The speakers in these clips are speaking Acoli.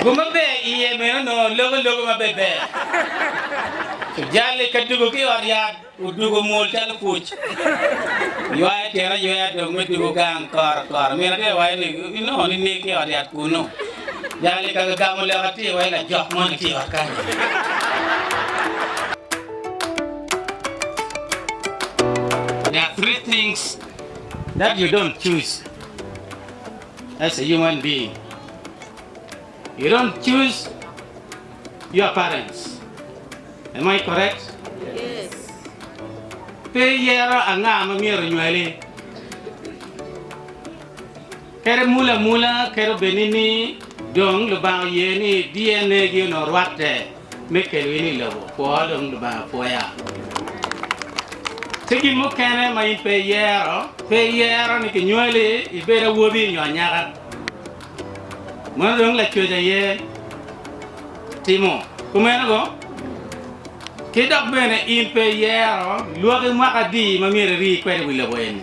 Gum ma ber iye meno onongo loko lobo ma pe ber. Jal-li ka dugo ki i ot yat, odugo mwol calo puc. Ywayo tyen ayweya dong me dugo gang kora kora. Min atir waco ni, Inongo nining ki i ot yat kunnu? Jal-li ka gagamo lok atir waco, Lajok moni tye i ot kany. There are three things that you don't choose. as a human being you don't choose your parents am I correct yes pe iyero anga ma myero onywali kadi mule amula kadi obed ni dong lubanga oye ni DNA gi onongo rwatte. me kelo in i lobo kwo dong Lubanga pwoya. Tye gin mukene ma in pe iyero, pe iyero ni kinywali ibed awobi nyo anyaka, meno dong Lacwec aye timo kumeno go, ki dok bene in pe iyero lwaki mwaka adi ma myero iri kwede i wi lobo eni.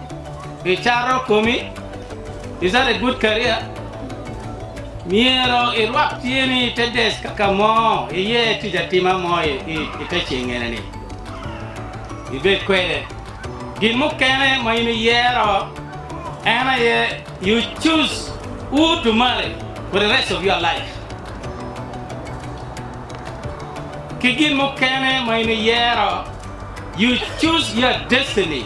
Icato komi? Is that a good career? Myero irwak tyeni i te desk ka ka mo iye tic atima mo i te cengene-ni. Ibed kwede. Gin mukene ma in iyero en aye you choose who to marry for the rest of your life. Ki gin mukene ma in iyero you choose your destiny.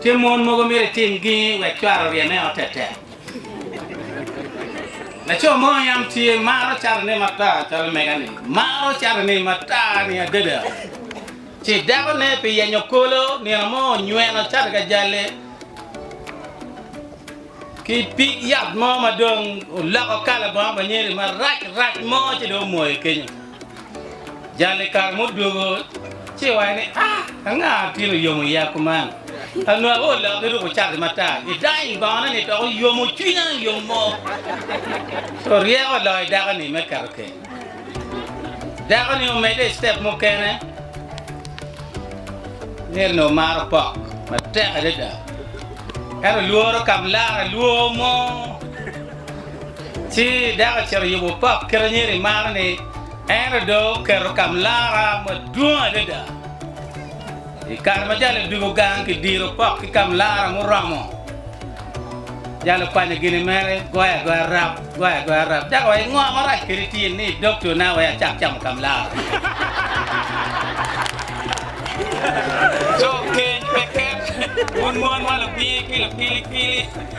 Tye mon mogo myero itim gingi wek cware oryeme ot tetek? Laco mo i yam tye maro catone mata calo mega-ni maro catone mata-ni adada, ci dakone pi yenyo kolo nino mo onyweno cate ka jalle ki pig yat mo ma dong oloko kala bongo pa nyeri marac rac mo ci dong omoyo kenyo. Jal i kare mudwogo ci waco ni, A, anga gin oyomo iya kuman? A Nua o lok iruko cati matar, idany bongone ni dok oyomo cwinya yomo. Co ryeko oloyo dako-ni me keto keny. Dako-ni omedde i citep mukene, ngeto onongo maro pok matek adada. En olworo kamlara lwo mo. Ci dako ocito oyubo pok kit anyeri maro-ni, ento dong oketo kamlara madwong adada. I kare ma jalo odwogo gang, kidiro pok ki kamlara muromo. Jalo okwanyo gine mere, goyo agoya rap, goyo agoya rap. Dako owaco, Ngo marac kadi tye ni idogtona wek acak camo kamlara? Co keny pe ket, wun mon ma lubir ki lupilikili!